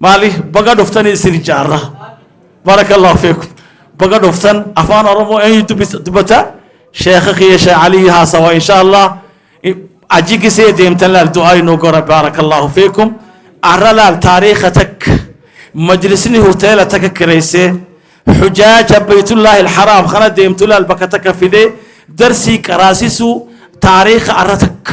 maali baga dhuftanii isin jaarra barakallahu feekum baga dhuftan afaan oromoo eenyu dubbisa dubbata sheekha kiyya sheekh alii haasawa insha allah aji gisee deemtan laal du'aa inuu gora barakallahu feekum arra laal taariikha takka majlisni hoteela takka kireysee xujaaja baytullaahi alxaraam kana deemtu laal bakka takka fidee darsii qaraasisuu taariikha arra takka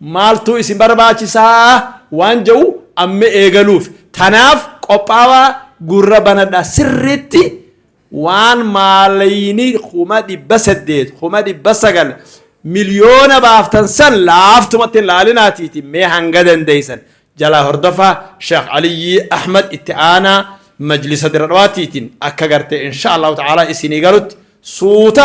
maaltuu isin barbaachisaa waan jedhu amma eegaluuf. Tanaaf qophaawaa gurra banadhaa sirriitti waan maalayini kuma dhibba saddeet, kuma dhibba sagal, miliyoona baaftan san laaftumatti hin laalinaatiiti mee hanga dandeeysan jalaa hordofaa Sheekh Aliyyii Ahmad itti aanaa majlisa dira dhawaatiitiin akka gartee insha Allahu ta'aalaa isinii galutti suuta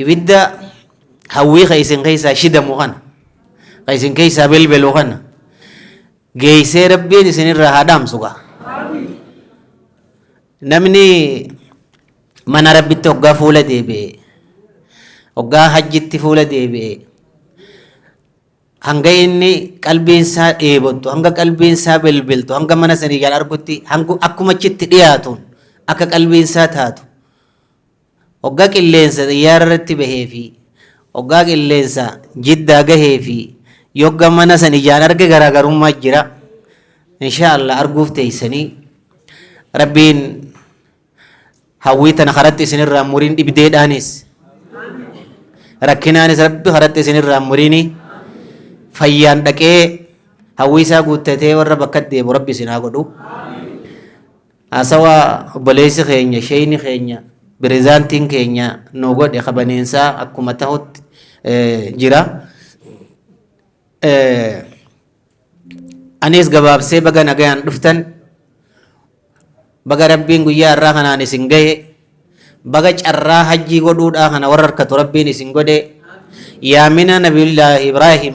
Ibidda hawwii ka isin keessaa shidamu kana, ka isin keessaa belbelu kana geessee Rabbiin isinirraa haa dhaamsu gaa. Namni mana Rabbitti hoggaa fuula deebi'e, hoggaa hajjitti fuula deebi'e, hanga inni qalbiin isaa dheebottu, hanga qalbiin isaa belbeltu, hanga mana sanii jala argutti, hanga akkuma achitti dhiyaatuun akka qalbiin isaa taatu Ogga qilleensa xiyyaara irratti bahee fi oggaa qilleensa jiddaa gahee fi yogga mana san ijaan arge garaagarummaa jira. Inshaa Allah arguuf teessanii rabbiin hawwii tana karatti isinirraa muriin dhibdeedhaanis rakkinaanis rabbi karatti isinirraa muriini fayyaan dhaqee hawwii isaa guuttatee warra bakka deemu rabbi isin haa godhu. Haasawaa obboleessi keenya, sheeyni keenya, pirezidaantiin keenya nuu godhe kabaniinsaa akkuma tahutti jira. Anis gabaabsee baga nagayaan dhuftan, baga Rabbiin guyyaa irraa kanaan isin gahe, baga carraa hajjii godhuudhaa kana warra harkatu Rabbiin isin godhe, yaamina Nabiyullaahi Ibraahim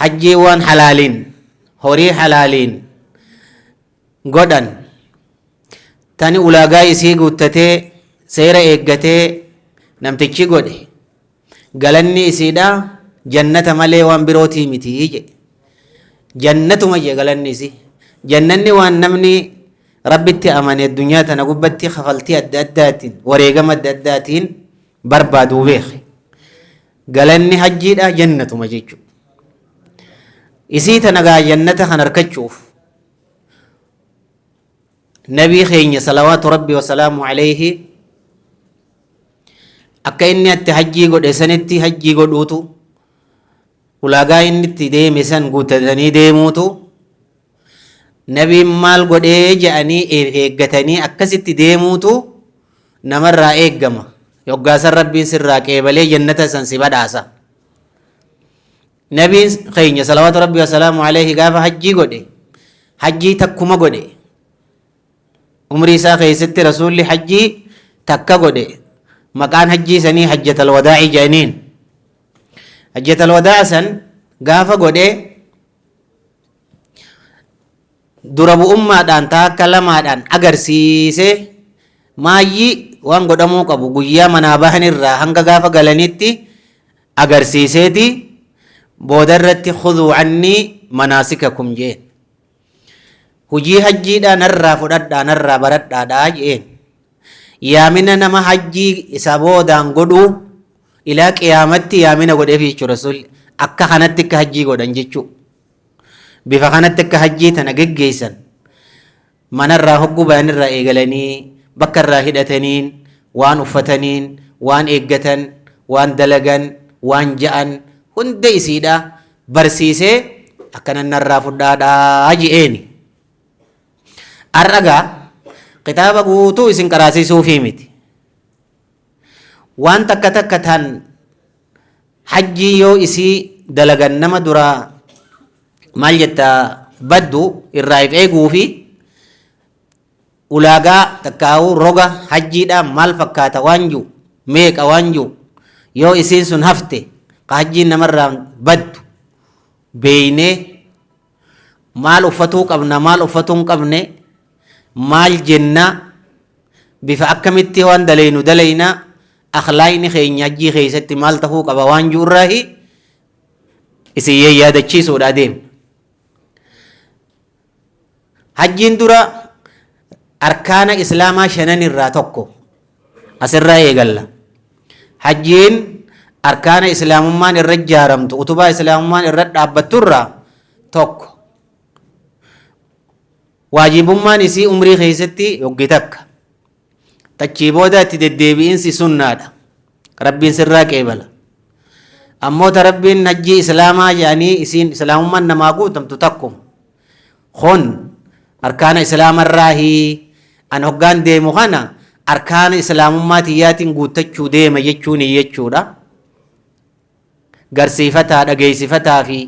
hajjiiwwan halaaliin horii halaaliin godhan tani ulaagaa isii guuttatee seera eeggatee namtichi godhe galanni isiidha jannata malee waan birootii miti jedhe jannatuma jedhe galanni isii jannanni waan namni rabbitti amane addunyaa tana gubbatti kafaltii adda addaatiin wareegama adda addaatiin barbaaduu beeke Galanni hajjiidha jannatuma jechu. Isii tana gaa jannata kan harkachuuf nabii keenya salawaatu rabbi wasalaamu alayhi akka inni atti hajjii godhe sanitti hajjii godhuutu ulaagaa inni itti deeme san guutatanii deemuutu Nabiin maal godhee je'anii eeggatanii akkasitti deemuutu namarraa eeggama. Yoggaasan Rabbiin sirraa qeebalee jannata san si badhaasa. Nabiin keenya salawaatu Rabbi wasalaamu alayhi gaafa hajjii godhe hajjii takkuma godhe. Umrii isaa keessatti rasuulli hajjii takka godhe maqaan hajjii sanii hajjatal wadaa'ii jedhaniin. Hajjatal wadaa san gaafa godhee dura bu'ummaadhaan taakka lamaadhaan agarsiisee maayyii waan godhamuu qabu guyyaa manaa bahan irraa hanga gaafa galanitti agarsiiseeti booda irratti khuduu annii manaasikakum jeen hujii hajjiidhaan irraa fudhadhaan irraa baradhaadhaa jeen yaamina nama hajjii isa boodaan godhuu Ilaa qiyaamatti yaamina godheefi jechuun rasuulli akka kanatti akka hajjii godhan jechuu bifa kanatti akka hajjii tana geggeessan manarraa hogguu bayanirraa eegalanii bakka irraa hidhataniin waan uffataniin waan eeggatan waan dalagan waan ja'an hunda isiidha barsiisee akkanan narraa fudhaadhaa je'eeni. Arragaa kitaaba guutuu isin qaraasiisuufii miti. Waan takka takka tan hajjii yoo isii dalagan nama duraa maal jetta baddu irraa if eeguu fi ulaagaa takkaa'uu roga hajjiidhaa maal fakkaata waan jiru meeqa waan jiru yoo isiin sun hafte ka hajjiin namarraa baddu beeynee Maal uffatuu qabna, maal uffatuu hin qabne, maal jenna, bifa akkamitti waan dalaynu dalayna, akhlaaqni keenya hajjii keessatti maal tahuu qaba waan jiru irraahi isin yaadachiisuudha adeemna. Hajjiin dura arkaana islaamaa shanan irraa tokko asirraa eegalla hajjiin arkaana islaamummaan irra ijaaramtu utubaa islaamummaan irra dhaabbattu irraa tokko waajibummaan isii umrii keessatti yoggi takka tachii booda itti deddeebi'insi sunnaadha rabbiin sirraa qeebala ammoo ta rabbiin hajjii islaamaa jedhanii isiin islaamummaan namaa guutamtu takkuma Kun arkaana islaama irraahi. An hoggaan deemu kana arkaana islaamummaa tiyyaatiin guuttachuu deema jechuun jechuudha. Garsiifataa, dhageessifataa fi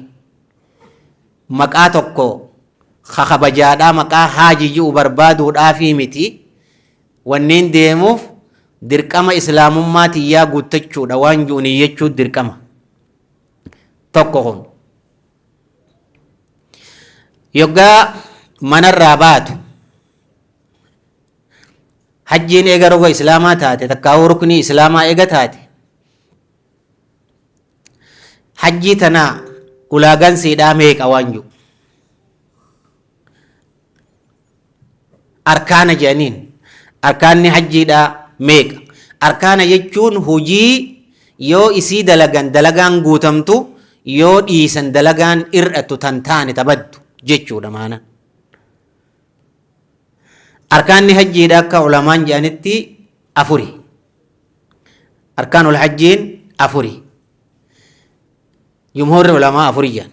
maqaa tokko kakabajaadhaa maqaa haaji ji'u barbaaduudhaafii miti. Wanniin deemuuf dirqama islaamummaa tiyyaa guuttachuudha waan ji'u niyyachuu dirqama. Tokko kun. Yoggaa manarraa baatu hajjiin eega roga islaamaa taate takkaawuu ruknii islaamaa eega taate hajjii tanaa ulaagaan siidhaa meeqa waan jiru arkaana jedhaniin arkaanni hajjiidhaa meeqa arkaana jechuun hojii yoo isii dalagan dalagaan guutamtu yoo dhiisan dalagaan ir'attu tan taane tabaddu jechuudha maana arkaanni hajjiidha akka ulamaan jedhanitti afuri arkaanul hajjiin afuri jumhurri ulamaa afuri jedhan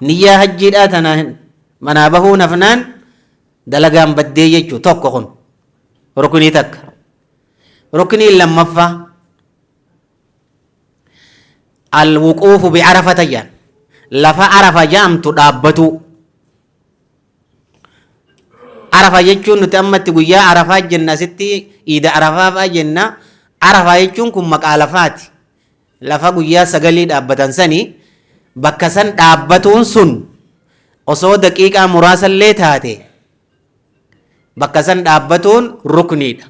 Niyyaa hajjiidhaa tana manaa bahuun hafnaan dalagaan baddee jechuu tokko kun rukunii takka. Rukuniin lammaffaa alwuquufu bi'arafata jedhan lafa arafa jedhamtu dhaabbatuu. Arafa jechuun nuti ammatti guyyaa arafaa jenna asitti iida arafaa fa'aa jenna. Arafa jechuun kun maqaa lafaati. Lafa guyyaa sagalii dhaabbatan sani bakka san dhaabbatuun sun osoo daqiiqaa muraasallee taate bakka san dhaabbatuun rukniidha.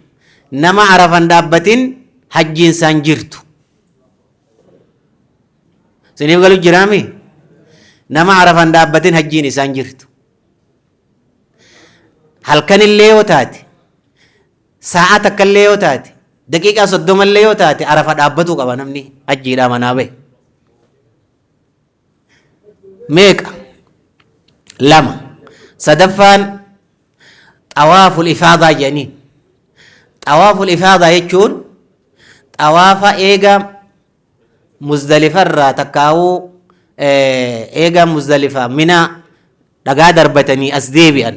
Nama arafan dhaabbatin hajjiin isaan jirtu. Isiniif galu jiraami? Nama arafan dhaabbatin hajjiin isaan jirtu. Halkanillee yoo taate Saa'aa takka illee yoo taate, daqiiqaa soddoma illee yoo taate arafa dhaabbatuu qaba namni hajjiidhaa manaa bahe. Meeqa? Lama. Sadaffaan xawaaful ifaadaa jedhaniin. Xawaaful ifaadaa jechuun xawaafa eega muzdalifarraa takkaawuu eega muzdalifaa minaa dhagaa darbatanii as deebi'an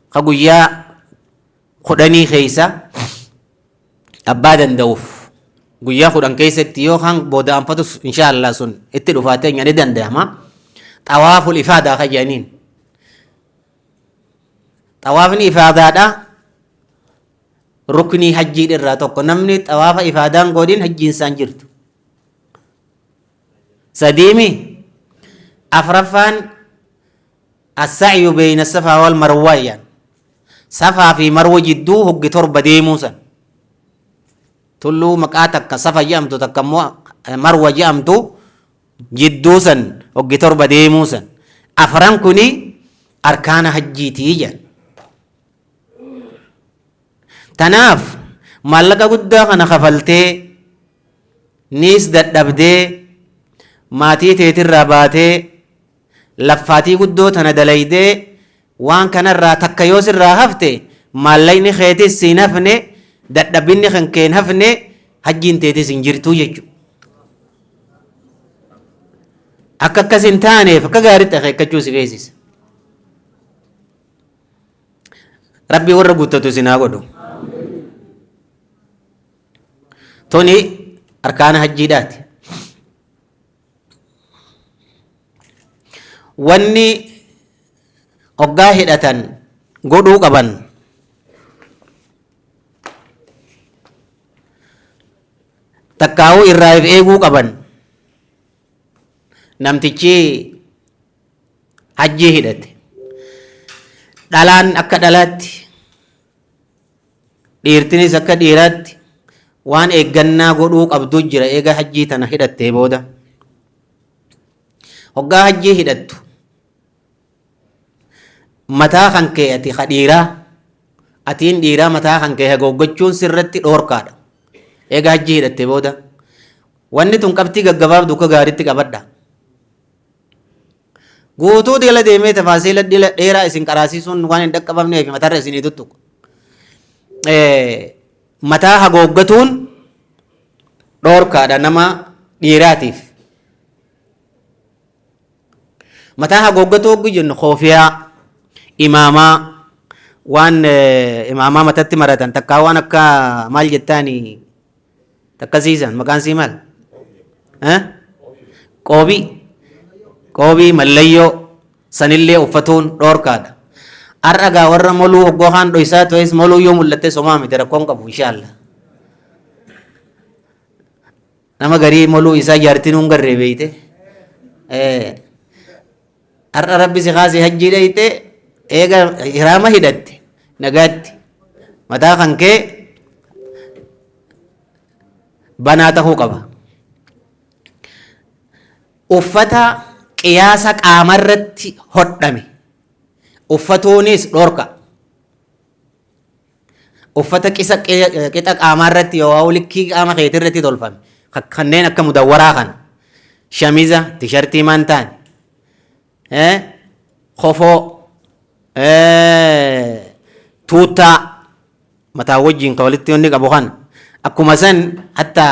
ka guyyaa kudhanii keessa abbaa danda'uuf guyyaa kudhan keessatti yoo kan booda anfatus inshaallah sun itti dhufaatee ni danda'ama xawaaful ifaadaa kan jedhaniin xawaafni ifaadaadha ruknii hajjii irraa tokko namni xawaafa ifaadaan godhin hajjiin isaan jirtu sadiimi afraffaan assa'yu beeyna safaa wal marwaayaan safaa fi marwa jidduu hoggi torba deemuu san tulluu maqaa takka safa jedhamtu takka immoo marwa jedhamtu jidduu san hoggi torba deemuu san afran kuni arkaana hajjiitii jedhan Tanaaf maallaqa guddaa kana kafaltee niis dadhabdee maatii teetirraa baatee laffaatii guddoo tana dalaydee waan kanarraa takka yoo sirraa hafte maallaqni keetis siin hafne dadhabbinni kan keen hafne hajjiin teetis hin jirtuu jechu akka akkas hin taaneef akka gaaritti akeekkachuu si feesisa Rabbi warra guuttatu isin haa godhu. Tuni arkaana hajjiidhaati. Wanni oggaa hidhatan godhuu qaban takkaa'uu irraa if eeguu qaban namtichi hajjii hidhate dhalaan akka dhalaatti dhiirtinis akka dhiiraatti waan eeggannaa godhuu qabdu jira eega hajjii tana hidhattee booda hoggaa hajjii hidhattu mataa kan kee ati ka dhiiraa atiin dhiiraa mataa kan kee hagooggachuun sirratti dhoorkaadha eega hajji hidhatte booda wanni tun qabxii gaggabaabdu akka gaaritti qabadha guutuu dila deemee tafaasiila dila dheeraa isin qaraasiisuun waan hin dhaqqabamneef matarra isinii tuttuqa mataa hagooggatuun dhoorkaadha nama dhiiraatiif Mataa haguuggatuu hogguu jennu koofiyaa, imaamaa, waan eh, imaamaa matatti maratan takkaa waan akka maal jettaani takka siisan maqaan sii maal? Eh? Qoobii. Qoobii mallayyoo sanillee uffatuun dhoorkaadha. Har'a gaa warra moluu hoggoo kaan dhoysaa ta'es moluu yoo mul'atte somaa miti rakkoon qabu inshaallah. Nama garii moluu isaa jaartii nuun garree beeyte. Har'a rabbi si kaasee hajjii dhayte eega hiraama hidhatte nagaatti mataa kan kee banaa tahuu qaba. Uffata qiyaasa qaamarratti hodhame uffatuunis dhorka. Uffata qisa qixa qaamaa irratti yookaan likkii qaama keetii irratti tolfame kanneen akka mudawwaraa kana shamiza tishartii mantaan kofoo tuuttaa mataa wajjin ka walitti wanni qabu kana akkuma san hatta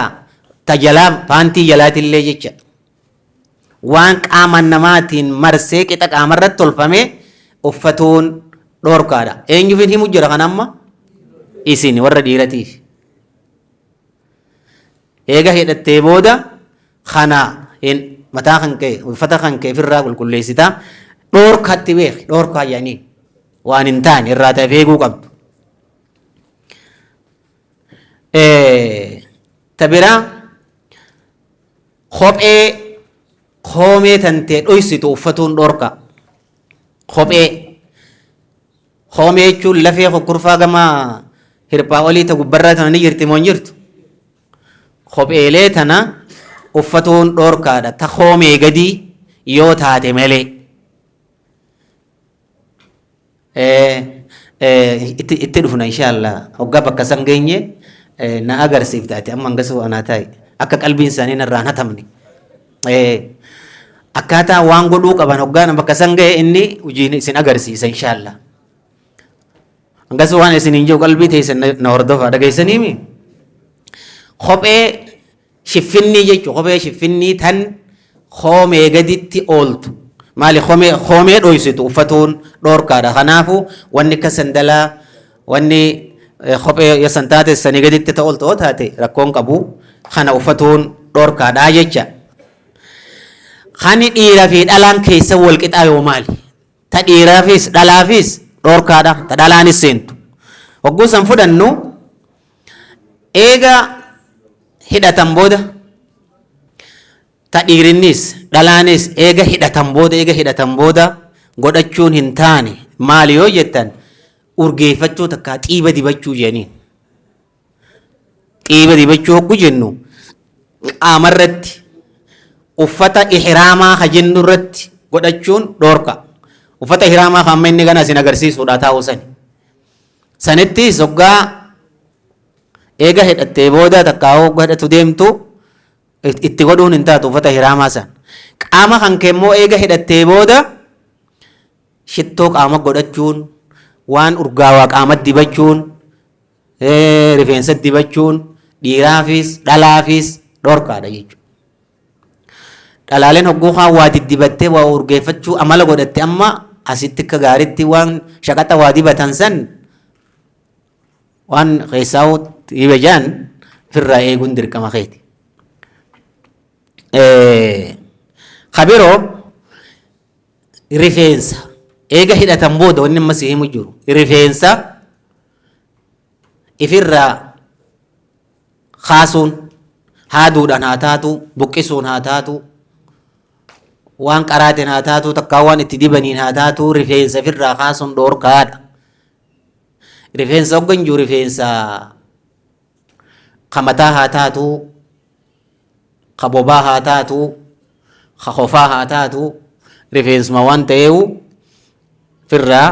tajalaa paantii jalaatillee jecha Waan qaama namaatiin marsee qixa qaamarratti tolfame uffatuun dhoorkaadha. Eenyuufin himu jira kan amma? Isin warra dhiiratiif. Eega hidhattee booda kana hin mataa kan kee uffata kan kee ofirraa qulqulleessita. Dhoorkaatti beeki dhoorkaa yaaniin waan hin taane irraa ta'eef eeguu qabdu. Ta biraa Kophee koomee tantee dhoysitu uffatuun dhorka. Kophee koomee jechuun lafee kokkurfaa gama hirphaa olii ta gubbarraa tana ni jirti moo hin jirtu? Kopheelee tana uffatuun dhorkaadha ta koomee gadii yoo taate malee. itti dhufna inshaallaa hoggaa bakka san geenye na agarsiifta ati amma hangasuu anaa taa'i akka qalbiin isaanii narraan hatamne akkaataa waan godhuu qaban hoggaan bakka san ga'e inni hojiin isin agarsiisa inshaallaa hangasuu waan isin hin jiru qalbii teessan na hordofaa dhageessaniimi kophee Shiffinnii jechuun kophee shiffinnii tan koomee gaditti ooltu. Maali koomee koomee dhoysitu uffatuun dhoorkaadha. Kanaafu wanni akka sandalaa wanni eh, kophee yoo san taate sanii gaditti ta ooltu yoo taate rakkoon qabu kana uffatuun dhoorkaadha jecha. Kani dhiira fi dhalaan keessa wal qixaa yoo maali? Ta dhiiraafis dhalaafis dhoorkaadha. Ta dhalaanis seentu. Hogguu san fudhannu Eega hidhatan booda ta dhiirinnis dhalaanis eega hidhatan booda eega hidhatan booda godhachuun hin taane maali yoo jettan urgeeffachuu takkaa xiiba dibachuu jedhaniin. Xiiba dibachuu hogguu jennu qaamarratti uffata ihraamaa ka jennu irratti godhachuun dhoorka. Uffata ihraamaa ka amma inni gana isin agarsiisuudha taa'uu sani. Sanittis hoggaa eega hidhattee booda takkaa hogga hidhatu deemtu itti godhuun hin taatu uffata hiraamaa san. Qaama kan kee immoo eega hidhattee booda shittoo qaama godhachuun waan urgaawaa qaama dibachuun rifeensa dibachuun dhiiraafis dhalaafis dhorkaadha jechuudha. Dhalaaleen hogguu kaan waa diddibattee waa urgeeffachuu amala godhatti amma asitti akka gaaritti waan shaqaxa waa dibatan san waan keessaa dhibe jaan firraa eeguun dirqama keeti. Kabiroo rifeensa eega hidhatan booda wanni amma si himu jiru rifeensa ifirraa kaasuun, haaduudhaan haa taatuu, buqqisuun haa taatuu, waan qaraatiin haa taatuu takkaa waan itti dibaniin haa taatuu rifeensa ofirraa kaasuun dhoorkaadha. Rifeensa hoggan jiru rifeensa ka mataa haa taatuu, ka bobaa haa taatuu, ka kofaa haa taatuu rifeensuma waan ta'eewu ofirraa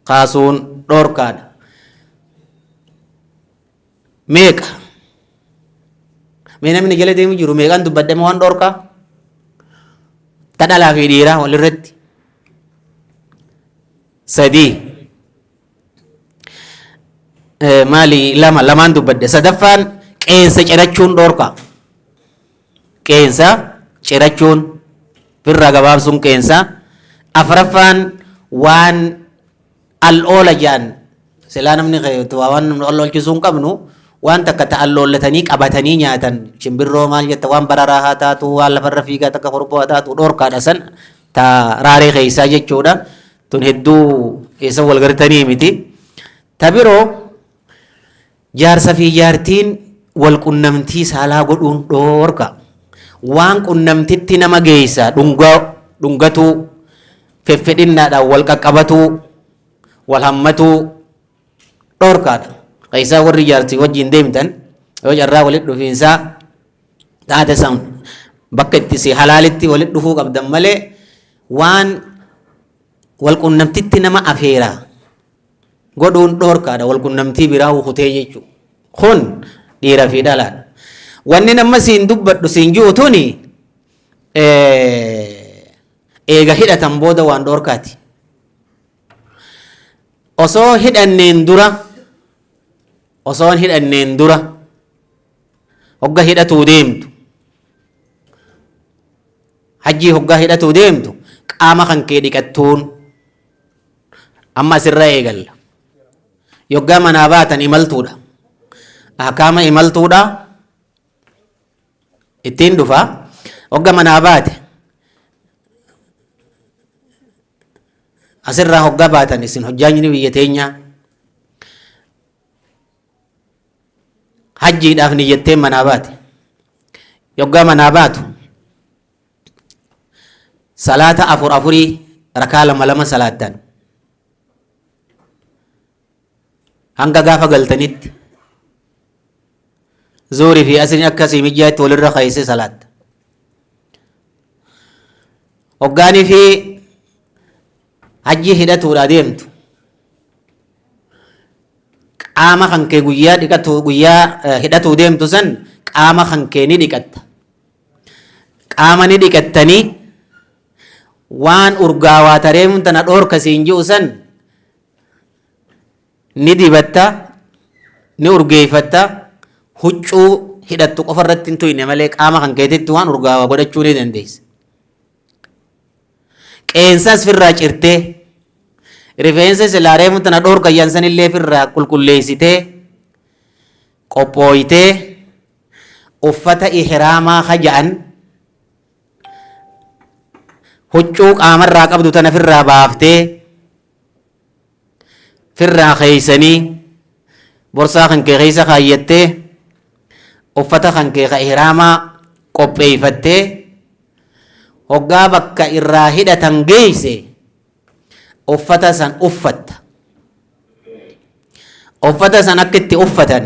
kaasuun dhoorkaadha. meeqa mee namni jala deemu jiru meeqan dubbadhame waan dhorkaa ta dhalaa fi dhiiraa walirratti sadii maali lama lamaan dubbadhe sadaffaan qeensa cirachuun dhorkaa qeensa cirachuun firraa gabaabsuun qeensa afraffaan waan al oola jaan silaa namni waa waan namni al oolchisuu hin qabnu waan takka ta al oollatanii qabatanii nyaatan shimbirroo maal jetta waan bararaa haa taatu waan lafarra fiigaa takka korboo haa taatu dhorkaadha san ta raaree keessaa jechuudha tun hedduu eessa wal gartanii miti ta biroo Jaarsa fi jaartiin wal qunnamtii saalaa godhuun dhoorka. Waan qunnamtitti nama geessa dhunga, dhungatuu, feffedhinnaadhaan wal qaqqabatuu, wal hammatuu dhoorkaadha. Keessaa warri jaarsii wajjin deemtan yoo carraa walitti dhufiinsaa taate san bakka itti si halaalitti walitti dhufuu qabdan malee waan wal qunnamtitti nama afeera godhuun dhoorkaadha walqunnamtii biraa ukutee jechuu kun dhiira fi dhalaadha wannin amma siin dubbadhu siin ji'u tuni eega hidhatan booda waan dhoorkaati osoo hidhanneen dura osoon hidhanneen dura hogga hidhatuu deemtu hajjii hoggaa hidhatuu deemtu qaama kan kee dhiqattuun Amma asirra eegalla. Yoggaa manaa baatan imaltuudha. Ahkaama imaltuudha ittiin dhufa. Hogga manaa baate asirraa hoggaa baatan isin hojjaajni biyya teenyaa hajjiidhaaf niyyattee manaa baate. Yoggaa manaa baatu salaata afur afurii rakaa lama lama salaattan hanga gaafa galtanitti zuurii fi asriin akka sii mijaatti walirra keessee salaatta hoggaanii fi hajjii hidhatuudha deemtu qaama kan kee guyyaa dhiqatu guyyaa eh, hidhatuu deemtu san qaama kan kee ni dhiqatta Qaama ni dhiqattanii waan urgaawaa tareemuun tana dhoorka siin ji'u san ni dibatta ni urgeeffatta huccuu hidhattu qofa irratti hin tuyne malee qaama kan keetitti waan urgaawaa godhachuu ni dandeessa. Qeensas firraa cirtee rifeensa silaa reemuun tana dhoorka yansanillee firraa qulqulleessitee qophooytee Uffata ihraamaa ka ja'an huccuu qaamarraa qabdu tana firraa baaftee firraa keeysanii borsaa kan kee keeysa kaayyattee uffata kan kee ka ihraamaa qopheeyfattee hoggaa bakka irraa hidhatan geeyse uffata san uffatta uffata san akka itti uffatan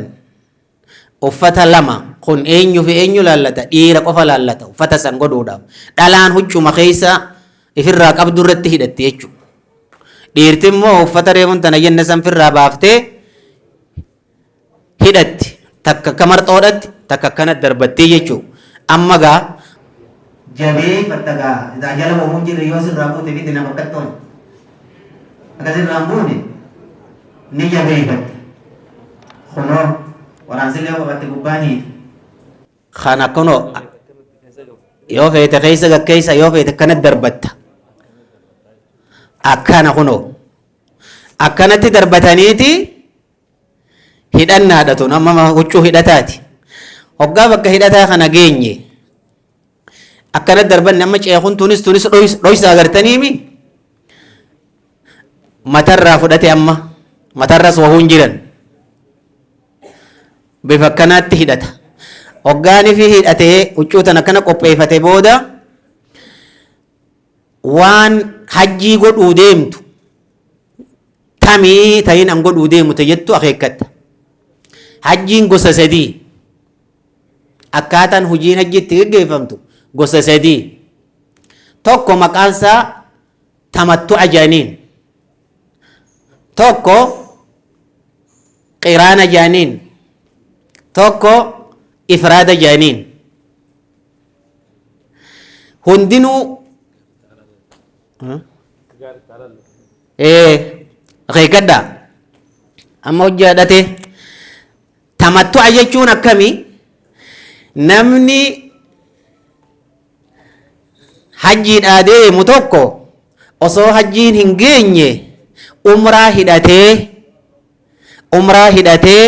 Uffata 2, Kun eenyu fi eenyu ilaallata? Dhiira qofa ilaallata. Uffata san godhuudhaaf. Dhalaan huccuma keessa ifirraa qabdu irratti hidhatti jechuudha. Dhiirti immoo uffata reefun tana jenne san firraa baaftee hidhatti. Takka akka marxoodhatti, takka akkanatti darbattii jechuudha. Amma gaa jabeeffatta gaa isaa jala homuun jirre yoo sirraa buute miti nama akkattoon akka sirraan buune ni jabeeffatta kunoo waraansillee qofaatti gubbaan hiite kana kunoo yoo feete keessa gakkeessa yoo feete akkana darbatta akkana kunoo akkanatti darbataniiti hidhannaadha tun amma huccuu hidhataati hoggaa bakka hidhataa kana geenye akkana darbanne amma ceekun tunis tunis dhoys- dhoysa agartaniimi matarraa fudhate amma matarras wahuun jiran bifa akkanaatti hidhata hoggaanifi hidhatee huccuu tan akkana qopheeffate booda waan hajjii godhuu deemtu tamii tahin an godhuu deemu ta jettu akeekkatta hajjiin gosa sadii Akkaataan hojiin hajjii itti geggeeffamtu gosa sadii. Tokko maqaan isaa tamattu'a jedhaniin. Tokko qiraana jedhaniin. Tokko ifraada jedhaniin. Hundinuu ee akeekkadhaa amma hojjaa dhatee Tamattu'a jechuun akkami? Namni hajjiidhaa deemu tokko osoo hajjiin hin geenye umraa hidhatee umraa hidhatee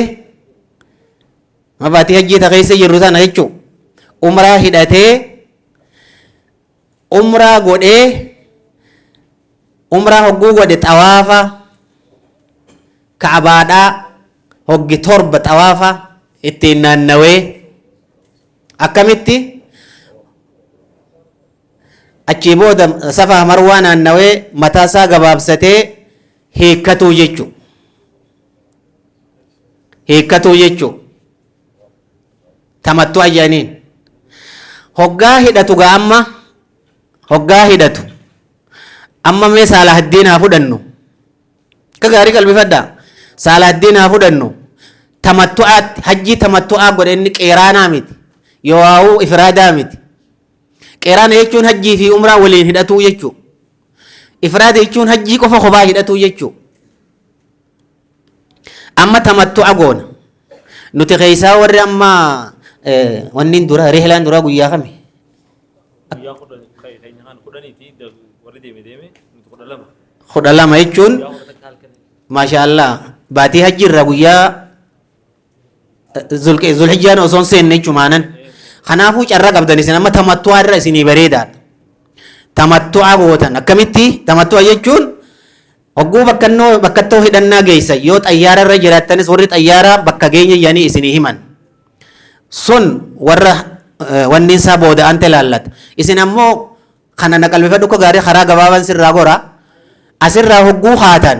mabaatii hajjii ta keessa jirru sana jechuudha. umraa hidhatee umraa godhee umraa hogguu godhe xawaafa ka'abaadhaa hoggi torba xawaafa ittiin naannawee akkamitti achii booda safaa marwaa naannawee mataa isaa gabaabsatee hiikkatuu jechuu hiikkatuu jechuu tamattu ayyaniin hoggaa hidhatu gaa amma hoggaa hidhatu amma mee saalahaddiin haa fudhannu akka gaarii qalbifadha saalahaddiin haa fudhannu tamattu'aatti hajjii tamattu'aa godhe inni qeeraanaa miti yoowaawuu ifiraadaa miti qeeraana jechuun hajjii fi umraa waliin hidhatuu jechuu ifiraada jechuun hajjii qofa kophaa hidhatuu jechuu Amma tamattu'a goona. Nuti keessaa warri amma wanniin dura rihlaan duraa guyyaa kami? Guyyaa kudhan keenya kan kudhaniiti warri deeme deeme nuti kudha lama. Kudha lama jechuun maashaa Allah baatii hajji irraa guyyaa Zulhijjaan osoo hin seenne jechumaanan. Kanaafuu carraa qabdan isin amma tamattu'aa irra isinii bareedaadha. Tamattu'aa gootan akkamitti tamattu'a jechuun hogguu bakkannoo bakkattoo hidhannaa geessa yoo xayyaara irra jiraattanis warri xayyaara bakka geenya jedhanii isinii himan. Sun warra wanni isaa booda ante ilaallata. Isin ammoo kana na qalbifadhu akka gaarii karaa gabaabaan sirraa gora asirraa hogguu haatan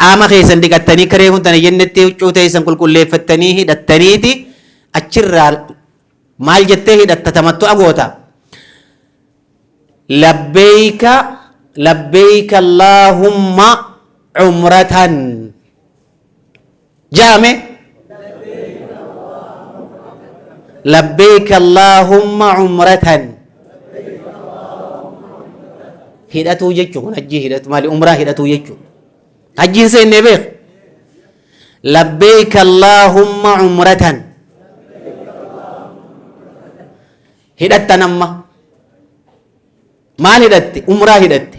Qaama keessan dhiqattanii akka reefuu tana jennetti huccuu teessan qulqulleeffattanii hidhattaniiti achirraa maal jettee hidhatta tamattu'a goota. Labbeeyka labbeeyka Allaahumma umratan. jaame labbeeyka allaahumma umratan hidhatuu jechu kun hajjii hidhatu maali umraa hidhatuu jechu hajjiin seennee beek labbeeyka allaahumma umratan hidhattan amma maal hidhatte umraa hidhatte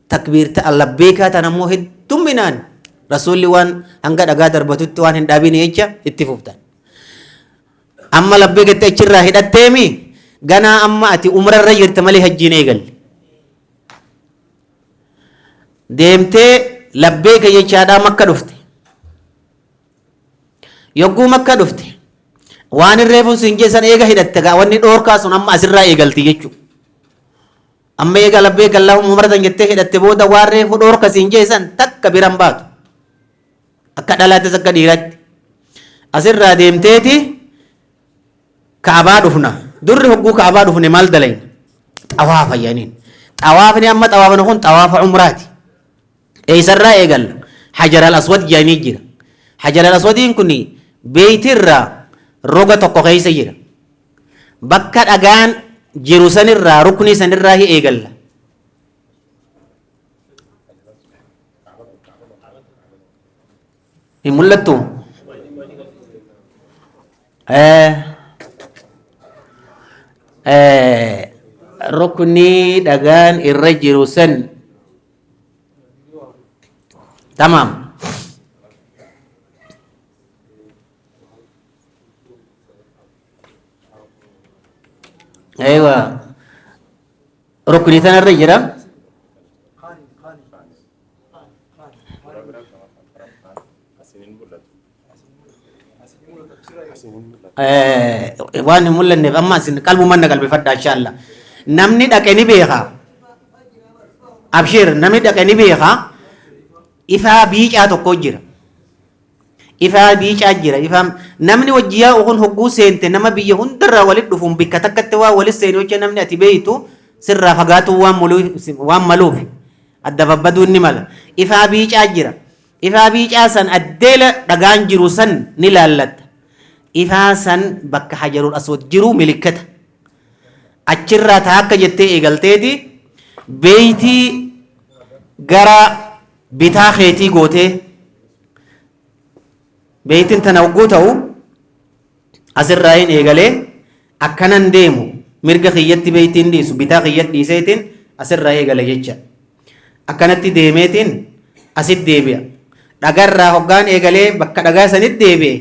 takbiirta allabbeekaa tana immoo heddumminaan rasuulli waan hanga dhagaa darbatutti waan hin dhaabine jecha itti fuftan. Amma labbeekatti achirraa hidhatteemi ganaa amma ati umrarra jirta malee hajjiin eegalle. Deemtee labbeeka jechaadhaa makka dhufte. Yogguu makka dhufte waan hin reefuun siin jeessan eega hidhatte gaa wanni dhoorkaa sun amma asirraa eegalti jechuudha. Amma eega labbeyk Allaahumma umara san jettee hidhatte booda waan reefu dhoorka siin jee san takka bira hin baatu. Akka dhalaattis akka dhiiraatti. Asirraa deemteeti Ka'abaa dhufna. Durri hogguu Ka'abaa dhufne maal dalayna? Xawaafa jedhaniin. Xawaafni amma xawaafni kun xawaafa umraati. Eessarraa eegalla? Hajar al-Aswad jedhanii jira. Hajar al-Aswadiin kun beeytirraa roga tokko keessa jira. Bakka dhagaan jiru sanirraa ruknii sanirraa hi eegalla. Hin mul'attu? Ruknii dhagaan irra jiru san tamaam. Eewa rukni tanarra jira. Eh, Waan hin mul'anneef amma isin qalbumaan na qalbifadha insha Allah. Namni dhaqe ni beeka. Abshiir namni dhaqe ni beeka. Ifaa biicaa tokko jira. Ifaa biicaa jira. Ifaa namni wajji yaa'u kun hogguu seente nama biyya hundarraa walit dhufuun bikka takkatti waan walit seenu jecha namni ati beeytu sirraa fagaatuu waan muluu- waan maluuf adda babbaduun ni mala. Ifaa biicaa jira. Ifaa biicaa san addeela dhagaan jiru san ni laallatta. Ifaa san bakka hajarul aswad jiru milikkata. Achirraa taakka jettee eegalteeti beeytii gara bitaa keetii gootee beeytin tana hogguu ta'u asirraa hin eegalee akkanan deemu mirga kiyyatti beeytiin dhiisu bitaa kiyyatti dhiiseetiin asirraa eegala jecha akkanatti deemeetiin asit deebi'a dhagarraa hoggaan eegalee bakka dhagaa sanitti deebi'e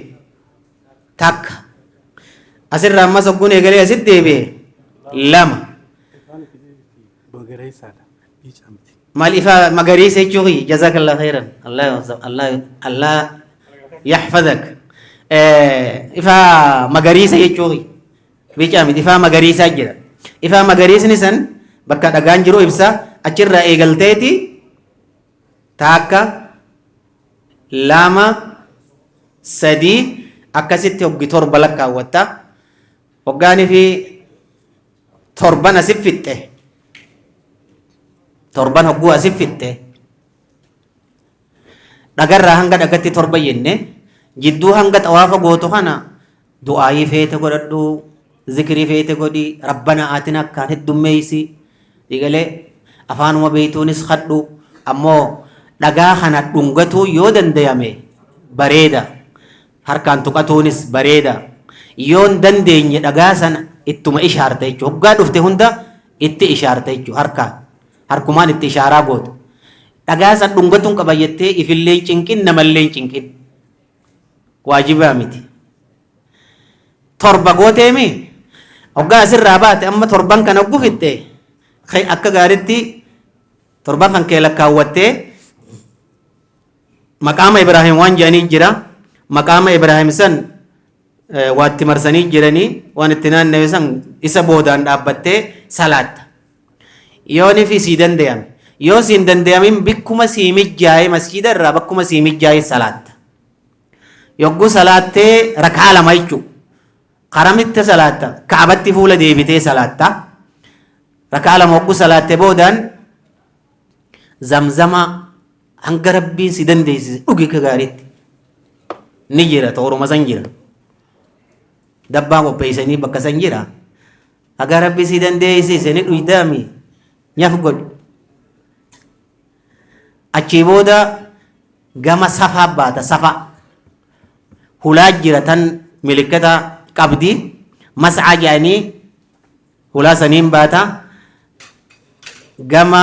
takka asirraa ammas hogguun eegalee asitti deebi'e lama. Bagareessaadha. Biicamti. Mal ifa magariisa jechuu kiyya jazakallah khairan Allah Allah Allah yahfazak ifa magariisa jechuu kiyya bicaa miti ifa magariisaa jira ifa magariisni san bakka dhagaan jiru ibsa achirraa eegalteeti taakka lama sadii akkasitti hoggi torba lakkaawwatta hoggaanii fi torban asif fixxe torban hogguu asif fixxe dhagarraa hanga dhagatti torba jenne jidduu hanga xawaafa gootu kana du'aayii feete godhadhu zikirii feete godhi rabbana aatin akkaan heddummeeysi dhigalee afaanuma beeytuunis kadhu ammoo dhagaa kana dhungatuu yoo dandayame bareeda Harkaan tuqatuunis bareeda. Yoon dandeenye dhagaa sana ittuma ishaarta jechuudha. Hoggaa dhufte hunda itti ishaarta jechuudha harkaan. Harkumaan itti ishaaraa goota. Dhagaa sana dhungatuun qaba jettee ifillee hin cinqin namallee hin cinqin. Waajibaa miti. Torba gooteemi hoggaa asirraa baate amma torban kana gufixxe akka gaaritti torban kan kee lakkaawwattee Maqaama Ibraahim waan jedhanii jira. Maqaama Ibraahim san eh, waatti marsanii jiranii waan itti naannawe san isa boodaan dhaabbattee salaatta. Yoo nifi sii dandayame. Yoo siin dandayamin bikkuma sii mijjaa'ee masjiida irraa bakkuma sii mijjaa'ee salaatta. Yogguu salaattee rakaa lama jechuudha. Karamitti salaatta. Kaabatti fuula deebitee salaatta. Rakaa lama yogguu salaattee boodaan zamzama Hanga rabbiin si dandeessise dhugi akka gaariitti. Ni jira tooruma san jira. Dabbaa qopheessanii bakka san jira. Haga rabbi si dandeessise ni dhuydaami nyaf godhi. Achii booda gama safaa baata safaa. Hulaa jira tan milikkata qabdi mas'aa jedhanii hulaa saniin baata gama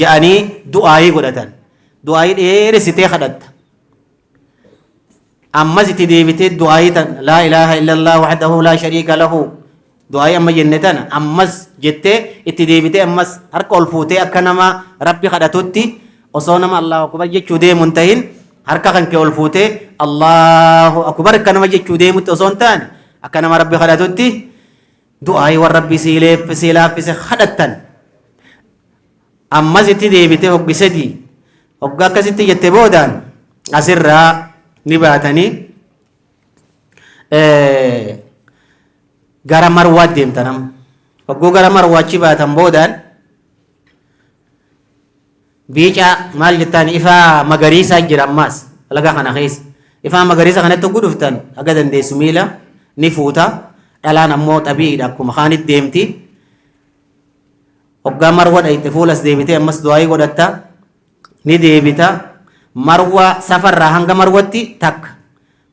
ja'anii du'aayii godhatan du'aayii dheeressitee kadhatta ammas itti deebitee du'aayii tan laa ilaaha illallah wahdahu laa shariika lahu du'aayii amma jenne tana ammas jettee itti deebitee ammas harka ol fuutee akka nama rabbi kadhatutti osoo nama allahu akbar jechuu deemu hin tahin harka kan kee ol fuutee allahu akbar akka nama jechuu deemutti osoo hin taane akka nama rabbi kadhatutti du'aa'ii waan rabbii sii leeffe sii laaffise kadhattan ammas itti deebite hoggi sadii hogga akkasitti jette boodaan asirraa ni baatanii gara marwaat deemtanam hogguu gara marwaachi baatan boodaan biicaa maal jettaan ifaa magariisaa jira ammaas laga kana keessa ifaa magariisa kanatti oguu dhuftan haga dandeessu miila ni fuuta dhalaan ammoo xabiidha akkuma kaanit deemti hoggaa marwa dhayxe fuulas deebitee ammas du'aayii godhatta ni deebita marwa safarraa hanga marwatti takka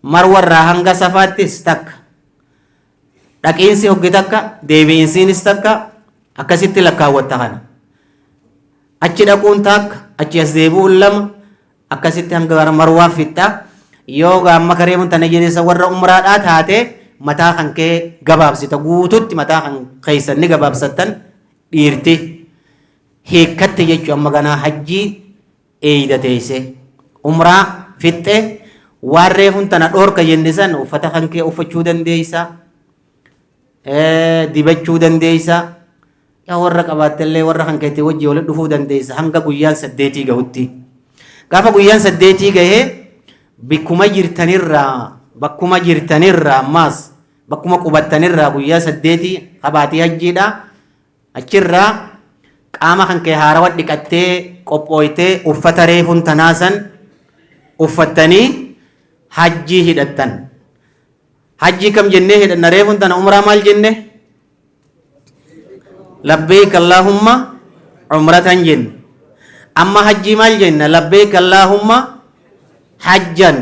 marwarraa hanga safaattis takka Dhaqiinsi hoggi takka deebi'insiinis takka akkasitti lakkaawwatta kana. Achi dhaquun takka achi as deebi'uun lama akkasitti hanga gara marwaa fixxa. Yoo gaamma kareemuun tana jedhesa warra umraadhaa taate mataa kan kee gabaabsita guututti mataa kan keessan ni gabaabsattan dhiirti hiikkatti jechuun amma ganaa hajjii Eeyda teeysee. Umraa. Fixxe. Waan reefun tana dhoorka jenne san uffata kankee uffachuu dandeeysa. Dibachuu dandeeysa. Yaa warra qabaattellee warra kankeetti wajji walitti dhufuu dandeeysa hanga guyyaan saddeetii gahutti. Gaafa guyyaan saddeetii gahee bikkuma jirtanirraa bakkuma jirtanirraa ammaas bakkuma qubattanirraa guyyaa saddeetii kabaatii hajjiidha Achirraa qaama kan kee haarawa dhiqattee qophooytee uffata reefuun tanaa san uffattanii hajjii hidhattan. Hajjii kam jennee hidhanna reefuun tana umraa maal jenne? Labbeeyk Allaahumma umratan jenne. Amma hajjii maal jenna? Labbeeyk Allaahumma hajjan.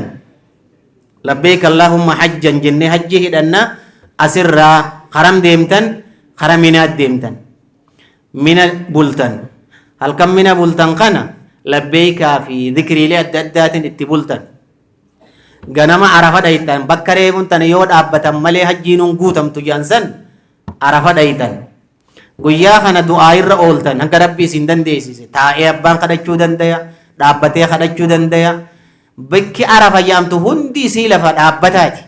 labbeeyk allaahumma hajjan jennee hajjii hidhanna asirraa haram deemtan hara minaat deemtan mina bultan halkan mina bultan kana labbeeykaa fi zikriilee adda addaatiin itti bultan ganama arafa dhayxan bakka reefuun tana yoo dhaabbatan malee hajjiinuun guutamtu jedhan san arafa dhayxan Guyyaa kana du'aa'irra ooltan hanga Rabbi isin dandeessise taa'ee abbaan kadhachuu dandaya, dhaabbatee kadhachuu dandaya. Bakki Arafa jedhamtu hundi isii lafa dhaabbataati.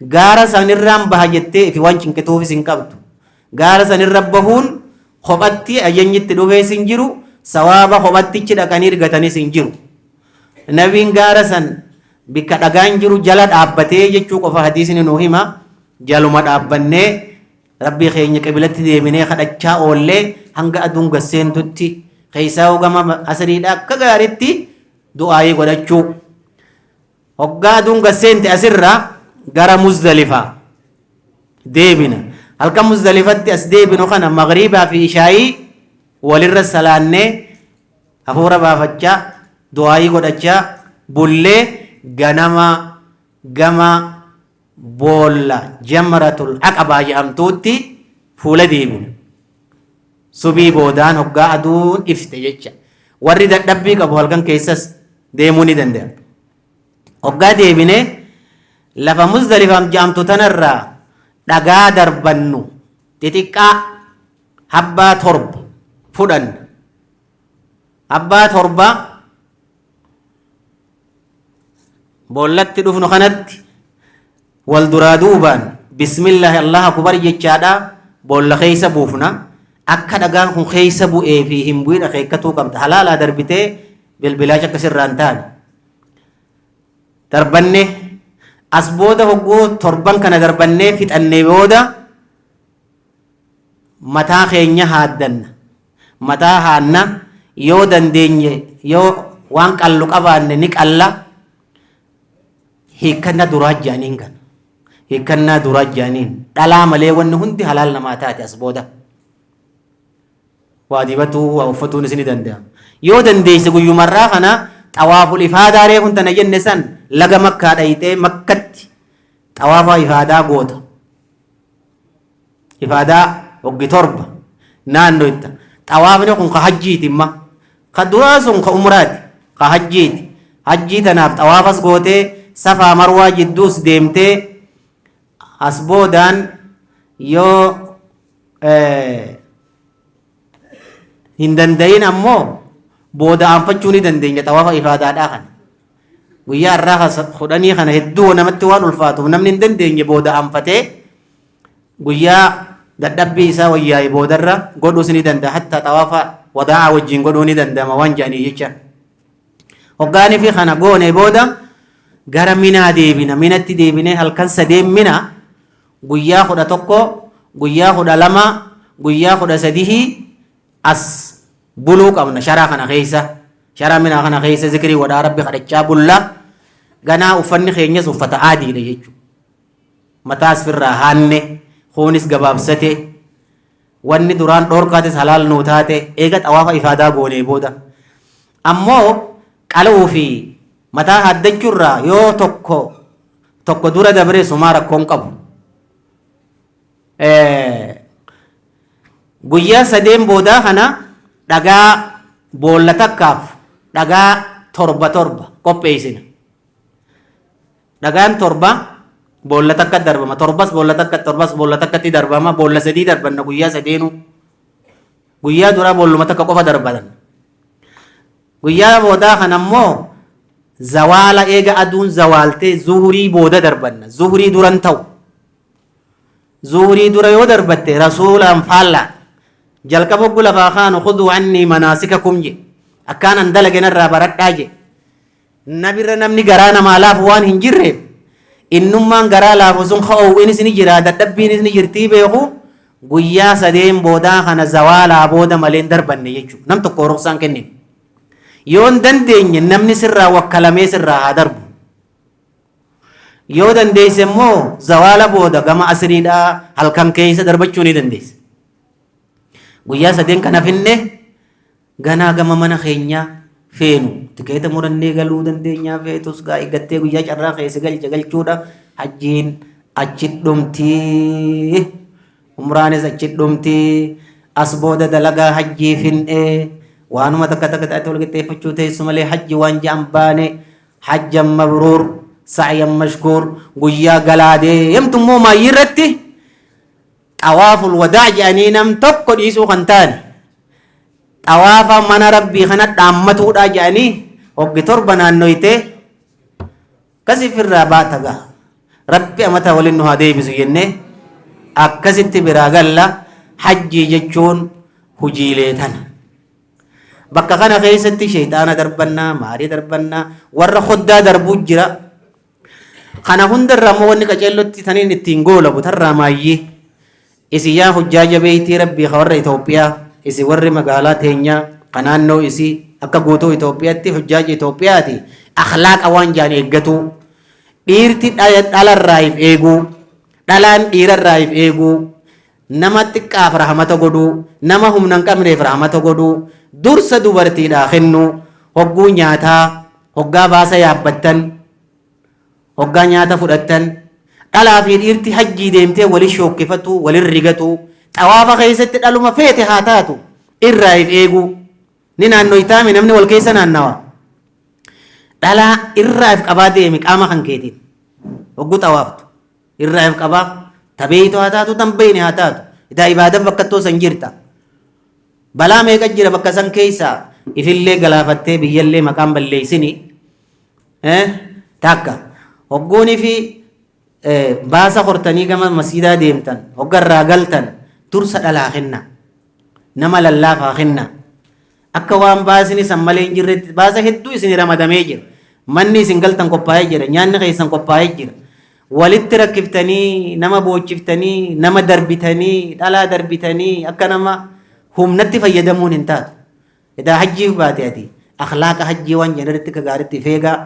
Gaara sanirraan baha jettee ifi waan cinqituufis hin qabdu. Gaara sanirra bahuun kophatti ayyanyi itti dhufees hin jiru, sawaaba kophattichi dhaqanii argatanis hin jiru. Nabiin gaara san bakka dhagaan jiru jala dhaabbatee jechuu qofa hadiisni nu hima. Jaluma dhaabbannee Rabbii keenya qiblatti deebinee kadhachaa oollee hanga aduun gad seentutti keessaa hogama asiriidha akka gaariitti du'aayii godhachuu hoggaa aduun gad seente asirraa gara muzdalifaa deebina halkan muzdalifatti as deebinu kana magriibaa fi ishaayii walirra salaannee hafuura baafachaa du'aayii godhachaa bullee ganama gama boolla jamratul aqabaa jedhamtuutti fuula deebina subii boodaan hoggaa aduun ifte jecha warri dadhabbii qabu halkan keessas deemuu ni danda'a hoggaa deebine lafa muzdalifaam jedhamtu tanarraa dhagaa darbannu xixiqqaa habbaa torba fudhanna abbaa torbaa boollatti dhufnu kanatti wal duraa duubaan bismillaahi allaha kubar jechaadha boolla keessa buufna akka dhagaan kun keessa bu'ee fi hin bu'in akeekkatuu qabda halaalaa darbitee bilbilaacha akka sirraan taane darbanne as booda hogguu torban kana darbannee fixannee booda mataa keenya haaddanna mataa haanna, yoo dandeenye yoo waan qallu qabaanne ni qalla. Hiikkannaa duraa jedhaniin kana. Hiikkannaa duraa jedhaniin dhalaa malee wanni hundi halaal namaa taate as booda. Waa dibatuu, waa uffatuun isini danda'ama. Yoo dandeesse guyyumarraa kana xawaaful ifaadaa reefun tana jenne san laga makkaa dhayxee makkatti xawaafaa ifaadaa goota. Ifaadaa hoggi torba naannoyta. Xawaafni kun ka hajjiiti imma. Ka duraa sun ka umraati. Ka hajjiiti. Hajjii tanaaf xawaafas gootee safaa marwaa jidduus deemtee as boodaan yoo hin dandayin ammoo booda aanfachuu ni dandeenya xawaafa ifaadaadhaa kana. Guyyaa irraa kudhanii kana hedduu namatti waan ulfaatuuf namni hin dandeenye booda aanfatee guyyaa dadhabbii isaa wayyaa'e boodarra godhuus ni danda'a hatta xawaafa wadaa'aa wajjin godhuu ni danda'ama waan jedhanii jecha hoggaanii fi kana goonee booda gara minaa deebina minatti deebinee halkan sadeen mina guyyaa kudha tokko guyyaa kudha lama guyyaa kudha sadihii as buluu qabna sharaa kana keessa sharaa minaa kana keessa zikrii wadhaa rabbi kadhachaa bulla ganaa uffanni keenyas uffata aadiidha jechuudha. mataas firraa haanne, kuunis gabaabsate, wanni duraan dhoorkaatis halaal nuu taate, eega xawaafa ifaadaa goonee booda ammoo qala'uu fi mataa haaddachuu irraa yoo tokko tokko dura dabre sumaa rakkoo hin qabu. Guyyaa sadeen boodaa kana dhagaa boolla takkaaf dhagaa torba torba qopheessina. Dhagaan torba boolla takka darbama. Torbas boolla takka, torbas boolla takkatti darbama. Boolla sadii darbanna guyyaa sadeenuu. Guyyaa duraa boolluma takka qofa darbatan. Guyyaa boodaa kana immoo zawaala eega aduun zawaaltee zuhurii booda darbanna. Zuhurii duran ta'u. Zuhurii dura yoo darbatte rasuulaan faallaa. Jalqaba oggu lafaa kaanu khuduu annii manaasikakum je. Akkaanan dalage narraa baradhaa je. Na bira namni garaa namaa laafu waan hin jirreef innummaan garaa laafu sun ka oowwinis ni jira dadhabbiinis ni jirtii beeku guyyaa sadeen boodaa kana zawaalaa booda malee hin darbanne jechuudha. Nam tokko ruksaan kennin. Yoo hin dandeenye namni sirraa wakkalamee sirraa haa darbu. Yoo dandeesse immoo zawaala booda gama asiriidhaa halkan keessa darbachuu ni dandeesse. Guyyaa sadeen kana finne Ganaa gama mana keenyaa feenu tikeeta murannee galuu dandeenyaa feetus gaa eeggattee guyyaa carraa kee si galche galchuudha hajjiin achi dhumtii umraanis achi dhumtii as booda dalagaa hajjii fin'ee waanuma takka takka taate wal qixxeeffachuu teessu malee hajji waan ja'an baane hajjan mabruur sa'yan mashkuur guyyaa galaa deemtu immoo maayyii irratti xawaaful wadaa' jedhanii nam tokko dhiisuu kan taane xawaafa mana rabbii kana dhaammatuudha jedhanii hoggi torba naannoytee akkasif irraa baata gaa rabbi amata waliin nu haa deebisu jennee akkasitti biraa galla hajjii jechuun hujiilee tana bakka kana keessatti sheeyxaana darbannaa maarii darbannaa warra hoddaa darbuu jira Kana hunda irraa immoo wanni qaceellotti taniin ittiin goolabu tarraa maayyii isin yaa hujjaaja beeytii rabbii ka warra Itoophiyaa isin warri magaalaa teenyaa ka naannoo isii akka guutuu Itoophiyaatti hujjaaja Itoophiyaati akhlaaqa waan jaan eeggatuu dhiirti dhalarraa if eeguu dhalaan dhiirarraa if eeguu Nama xiqqaaf rahmata godhuu, nama humna hin qabneef rahmata godhuu, dursa dubartiidhaa kennuu, hogguu nyaataa, hoggaa baasa yaabbattan, hoggaa nyaata fudhattan, dhalaa fi dhiirti hajjii deemtee wali shookkifatuu, walin rigatuu, xawaafa keessatti dhaluma feete haa taatu irraa if eeguu. Ni naannoytaami namni wal keessa naannawa. Dhalaa irraa if qabaa deemi qaama kan keetiin hogguu xawaaftu. irraa if qabaa ta beeytu haa taatu tan beeyne haa taatu itaa ibaadan bakkattoo san jirta balaa meeqa jira bakka san keeysaa ifillee galaafattee biyyallee maqaan balleeysini takka hoggoonii fi baasa hortanii gama masiidaa deemtan hoggarraa galtan dursa dhalaa kenna nama lallaafaa kenna Akka waan baasni san malee hin jirretti baasa hedduu isinii ramadamee jira. Manni isin galtan qophaa'ee jira. Nyaanni keessan qophaa'ee jira. Walitti rakkiftanii, nama boochiftanii, nama darbitanii, dhalaa darbitanii akka nama humnatti fayyadamuun hin taatu. Edaa hajjiif baate ati. Akhlaaqa hajjii waan jennu irratti akka gaariitti ifeegaa.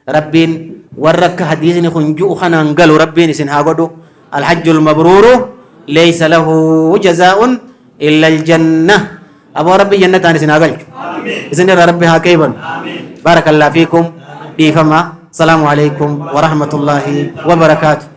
Rabbiin warra akka hadiisni kun ju'u kanaan galu rabbiin isin haa godhu alhajjul mabruuru leeysa lahu jazaa'un illa aljanna aboo rabbi jannataan isin haa galchu isin irra rabbi haa qeebalu baarakallaa fiikum dhiifama salaamu alaikum warahmatullaahi wabarakaatu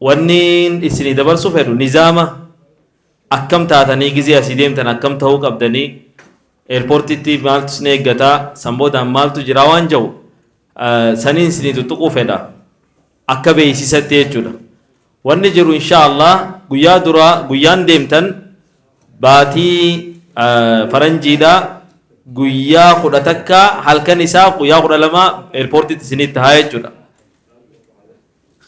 Wanniin issinii dabarsuu fedhu nizaama akkam taatanii gizee asii deemtan akkam tahuu qabdanii Airportitti maaltu isin eeggata san boodaan maaltu jiraa waan jahu saniin isinii tuttuquu fedha akka beeksisatti jechuudha. Wanni jiru insha Allah guyyaa duraa guyyaan deemtan baatii faranjiidha guyyaa kudha takka halkan isaa guyyaa kudha lama Airportitti isinitti tahaa jechuudha.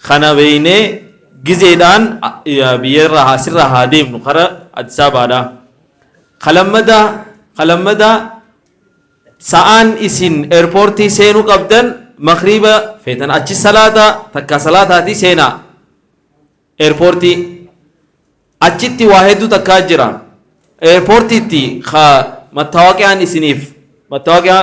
Kana beeynee gizeedhaan biyyarraa asirraa haa deemnu kara Addis Ababaadhaa. Ka lammadaa ka lammadaa sa'aan isin airportii seenuu qabdan makriiba feetan achi salaata takkaa salaataatii seenaa airportii. Achitti waa hedduu takkaa jira. Airportiitti ka mattaawaqiaan isiniif mattaawaqiaa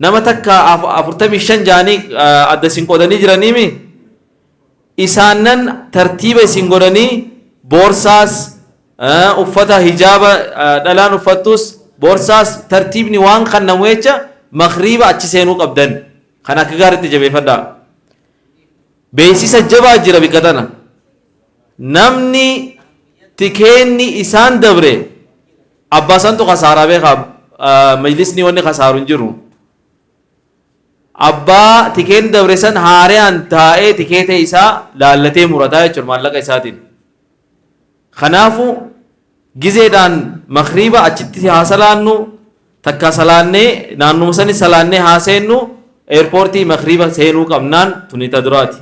Nama takka afurtamii shan ja'anii adda isin qoodanii jiraniimi isaannan tartiiba isin godhanii boorsaas uffata hijaaba dhalaan uffattus boorsaas tartiibni waan kannamu jecha makriiba achi seenuu qabdan kan akka gaariitti jabeeffadhaa. Beeksisa jabaa jira bikka tana namni tikeenni isaan dabre Abbaa santu kasaaraa beeka majlisni wanni kasaaru hin jiru. Abbaa tikeen dabre san haarayaan taa'ee tikeeta isaa laallatee murataa jechuudha maallaqa isaatiin. Kanaafu gizeedhaan makriiba achitti haa salaannu takka salaannee naannuma sani salaannee haa seennu eerpoortii makriiba seenuu qabnaan tuni ta duraati.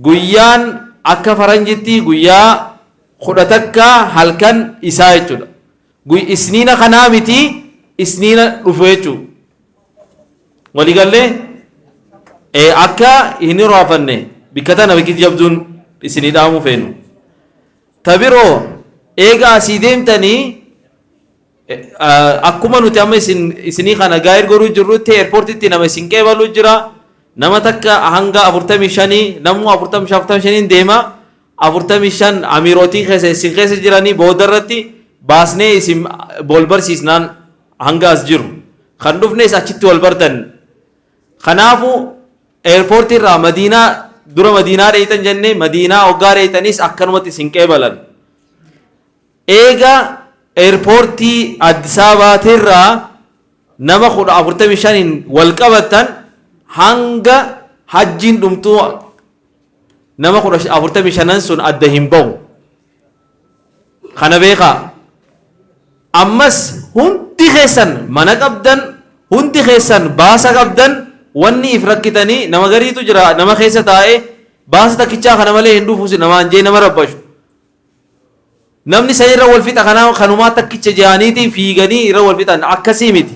Guyyaan akka faranjittii guyyaa kudha takka halkan isaa jechuudha. Guy isniina kanaa miti isniina dhufu jechuu. Walii gallee? Ee akka hin hiraafanne bikka tana bikki jabduun isinii dhaamuu feenu. Ta biroo eega asii deemtanii Akkuma nuti amma isin isinii kana gaa'ir goruu jirrutti eerpoortitti nama isin qeebalu jira. Nama takka hanga 45 namuu 45 45 deema. 45 amiirootiin keessa isin keessa jiranii booda irratti baasnee isin wal barsiisnaan hanga as jiru. Kan dhufnes achitti wal bartan. Kanaafuu eerpoortii irraa madiinaa dura madiinaa dheeytan jennee madiinaa hoggaa dheeytanis akkanumatti isin qeebalan. Eega Airportii Addis Ababaa tirraa nama 10 45n wal qabattan hanga Hajjiin dhumtuu nama 10 45n sun adda hin bahu. Kana beekaa. Ammas hundi keessan mana qabdan, hundi keessan baasa qabdan, wanni if rakkitanii nama gariitu jira nama keessa taa'ee baasa takkichaa kana malee hin dhufu namaan jee nama rabbashu. Namni sani irra wal fixa kanaa kanumaa takkicha jaaniitiin fiiganii irra wal fixan akkasii miti.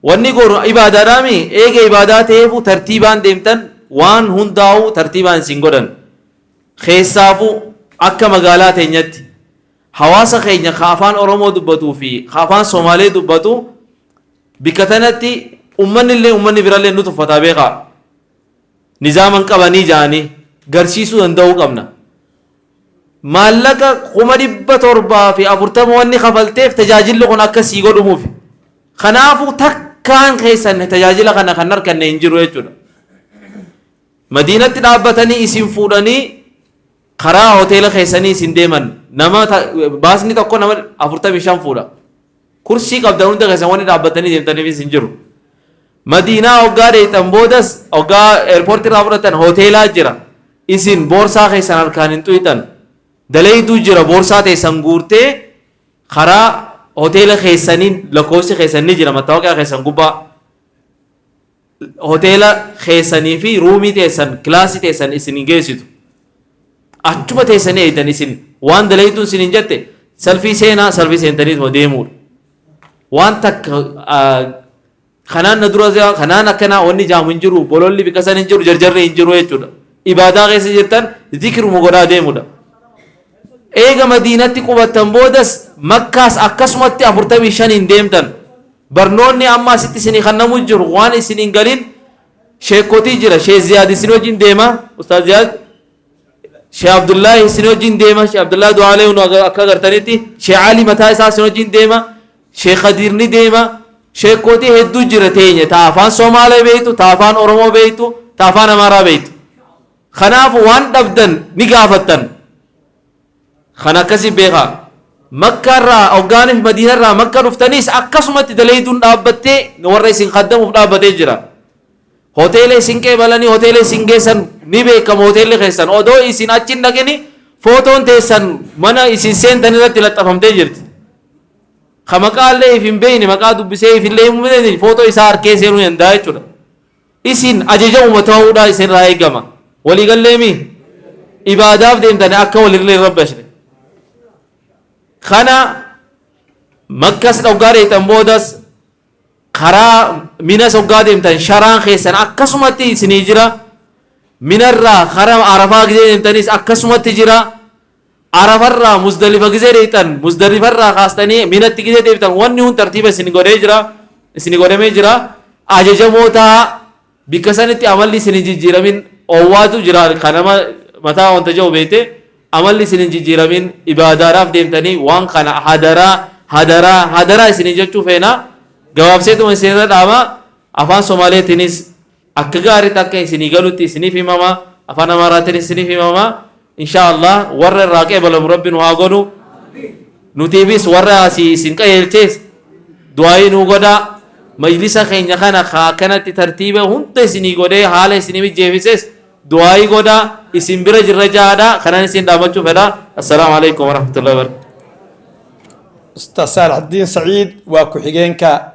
Wanni goonu ibaadaadhaami eega ibaadaa ta'eefuu tartiibaan deemtan waan hundaa'uu tartiibaan isin godhan. Keessaafuu akka magaalaa teenyatti hawaasa keenya ka afaan Oromoo dubbatuu fi ka afaan Somaalee dubbatu bikka tanatti ummanni illee ummanni birallee nu tuffataa beekaa. Nizaama hin qabanii ja'anii garsiisuu danda'uu qabna. Maallaqa 740,000 wanni kafalteef tajaajilli kun akka sii godhumuufi. Kanaafuu takkaan keessan tajaajila kana kan harkanne hin jiru jechuudha. Madiinatti dhaabbatanii isin fuudhanii karaa hoteela keessanii isin deeman nama baasni tokko nama 45 fuudha. Kursii qabdan hunda keessan wanni dhaabbattanii deemtaniifis hin jiru. Madiinaa hoggaa deeytan boodas hoggaa eerpoortii irraa fudhatan hoteelaa jira. Isin boorsaa keessan harkaan hin tuyxan. Daleeyduu jira boorsaa teessan guurtee karaa hoteela keessaniin lakkoofsi keessan ni jira mattaawoqiyaa keessan gubbaa. Hoteela keessanii fi ruumii teessan, kilaasii teessan isin hin geessitu. Achuma teessanii eeydan isin waan dalayduun isin hin jette salfii seenaa salfii seentaniituma deemuudha. Waan takka ah, kanaan na dura jira, kanaan akkanaa wanni jaamu hin jiru, bololli biqasan hin jiru, jarjarri hin jiru jechuudha. Ibaadaa keessa jirtan zikiruma godhaa deemuudha. Eega Madiinatti qubattan boodas Makkaas akkasumatti 45n deemtan. Barnoonni amma asitti isinii kannamu jiru waan isin hin galin sheekkotii jira. Sheekh Ziyaad isin wajjin deema. Ustaaz Ziyaad. Sheekh Abdullaahi isin wajjin deema. Sheekh Abdullaahi Du'aalee unu aga- akka agartanitti. Sheekh Ali mataa isaa isin wajjin deema. Sheekh Khadiir ni deema. Sheekkotii hedduu jira teenya. Ta afaan Somaalee beektu, ta afaan Oromoo beektu, ta afaan Amaaraa beektu. Kanaaf waan dhabdan ni gaafattan. Kan akkasii beekaa. Makka irraa hoggaaniif Madiina irraa Makka dhuftaniis akkasumatti daleeyduun dhaabbattee warra isin kaddamuuf dhaabbatee jira. Hoteela isin qeebalanii hoteela isin geessan ni beekama hoteelli keessan. Odoo isin achi hin dhaqini footoon teessan mana isin seentan irratti laxxafamtee jirti. Ka maqaa illee if hin beekne maqaa dubbisee if illee hin beekne footoo isaa harkee seenuu danda'a jechuudha. Isin ajajamuuma ta'uudha isinirraa eegama. Walii gallee mii? Ibaadaaf deemtani akka walirlee hin rabbashne. Kana makkas dhoggaa deemtan boodas karaa minas hoggaa deemtan sharaan keessan akkasumatti isinii jira. Minarraa karaa arafaa gisee deemtanis akkasumatti jira. Arafarraa muzdalifa gizee deeyxan muzdalifarraa kaastanii minatti gizee deebitan wanni hun tartiiba isin godhee jira isin godhamee jira ajajamoo taa bikka sanitti amalli isin hin jijjiiramin oowwaatu jira ka nama mataa wanta ja'u beeyte amalli isin hin jijjiiramin ibaadaadhaaf deemtanii waan kana hadaraa hadaraa hadaraa isin hin jechuu feena gabaabseetuma isin irra dhaama afaan somaaleetiinis Akka gaariitti akka isinii galutti isiniif himama, Afaan Amaaraatiinis isiniif himama. Inshaa Allaah warra irraa qeebalamu Rabbi nu haa godhu. Nutiifis warra asii isin qajeelchees du'aayii nuu godhaa. Majlisa keenya kana ka akkanatti tartiiba hunda isinii godhee haala isinii mijjeefises du'aayii godhaa. Isin bira jirra ja'aadha. Kanan isin dhaamachuu fedha. Assalaamu alaikum warahmatullahi wabarakatuh. Ustaz Saalaxdiin Sa'iid waa ku-xigeenka